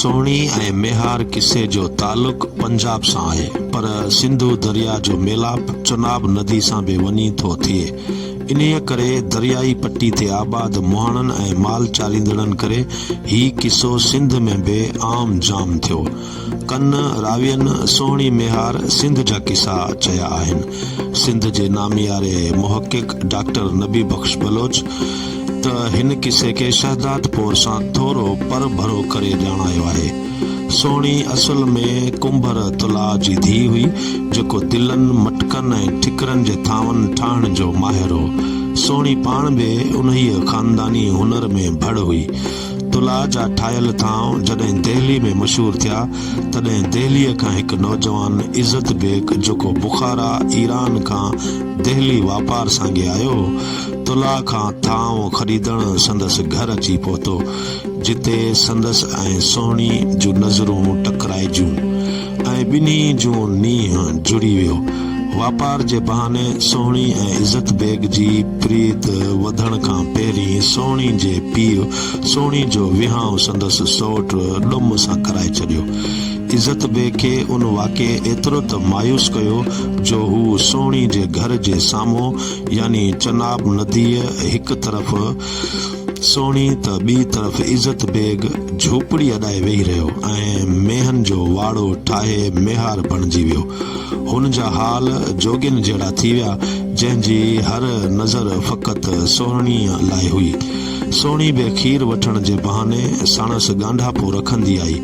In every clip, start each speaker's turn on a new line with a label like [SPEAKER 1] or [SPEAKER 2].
[SPEAKER 1] سهڻي ۽ ميهار قصي جو تعلق پنجاب سان آهي پر سنڌو درياء جو ميلاپ چناب ندي سان به وڃي ٿو ٿئي. انهيء ڪري دريائي پٽي تي آباد مهاڻن ۽ مال چاريندڙن ڪري هي قصو سنڌ ۾ به عام جام ٿيو. ڪن راوين سهڻي ميهار سنڌ جا قصا چيا آهن. سنڌ جي نامياري محقق ڊاڪٽر نبي بخش بلوچ، ته هن قصي کي شهدادپور سان ٿورو پر ڀرو ڪري ڄاڻايو آهي. سهڻي اصل ۾ ڪنڀر تلاء جي ڌيء هئي، جيڪو دلن، مٽڪن ۽ ٺڪرن جي ٿانون ٺاهڻ جو ماهر هو. سهڻي پاڻ به انهيء خانداني هنر ۾ ڀڙ هئي. تلاء جا ٺاهيل ٿانو جڏهن دهلي ۾ مشهور ٿيا، تڏهن دهليء کان هڪ نوجوان عزت بيگ جيڪو بخارا، ايران، کان دهلي واپار سانگي آيو هو، تلاء کان ٿانو خريدڻ سندس گهر اچي پهتو، جتي سندس ۽ سهڻيء جون نظرون ٽڪرائجيون ۽ ٻنهي جو نينهن جڙي ويو. واپار جي بهاني سهڻي ۽ عزت بيگ جي پريت وڌڻ کان پهرين سهڻي جي پيء سهڻي جو وهانء سندس سئوٽ ڏم سان ڪرائي ڇڏيو. عزت بيگ کي ان واقعي ايترو ته مايوس ڪيو، جو هو سهڻي جي گهر جي سامهون يعني چناب نديء هڪ طرف سهڻي ته ٻي طرف عزت بيگ جهوپڙي اڏائي ويهي رهيو ۽ مينهن جو واڙو ٺاهي ميهار بڻجي ويو. هن جا حال جوڳين جهڙا ٿي ويا، جنهن جي هر نظر فقط سهڻيء لاء هئي. سهڻي به کير وٺڻ جي بهاني ساڻس ڳانڍاپو رکندي آئي.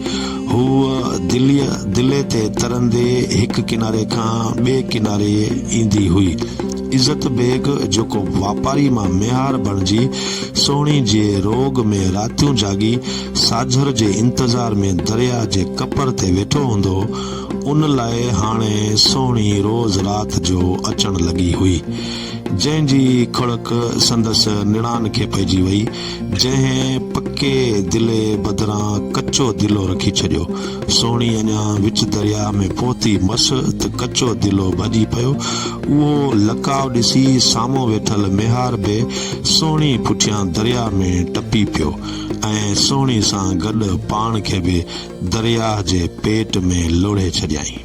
[SPEAKER 1] هوء دليء دلي تي ترندي هڪ ڪناري کان ٻئي ڪناري ايندي هئي. عزت بيگ جيڪو واپاري مان ميهار بڻجي سهڻي جي روڳ ۾ راتيون جاڳي ساجهر جي انتظار ۾ درياء جي ڪپر تي ويٺو هوندو هو، ان لاء هاڻي سهڻي روز رات جو اچڻ لڳي هئي، جنهن جي کڙڪ سندس نڻان کي پئجي وئي. جنهن پڪي دلي بدران ڪچو دلو رکي ڇڏيو. سهڻي اڃا وچ درياء ۾ پهتي مس ته ڪچو دلو ڀڄي پيو. اهو لقاء ڏسي سامهون ويٺل ميهار به سهڻي پٺيان درياء ۾ ٽپي پيو ۽ سهڻي سان گڏ پاڻ کي به درياهه جي پيٽ ۾ لوڙهي ڇڏيائين.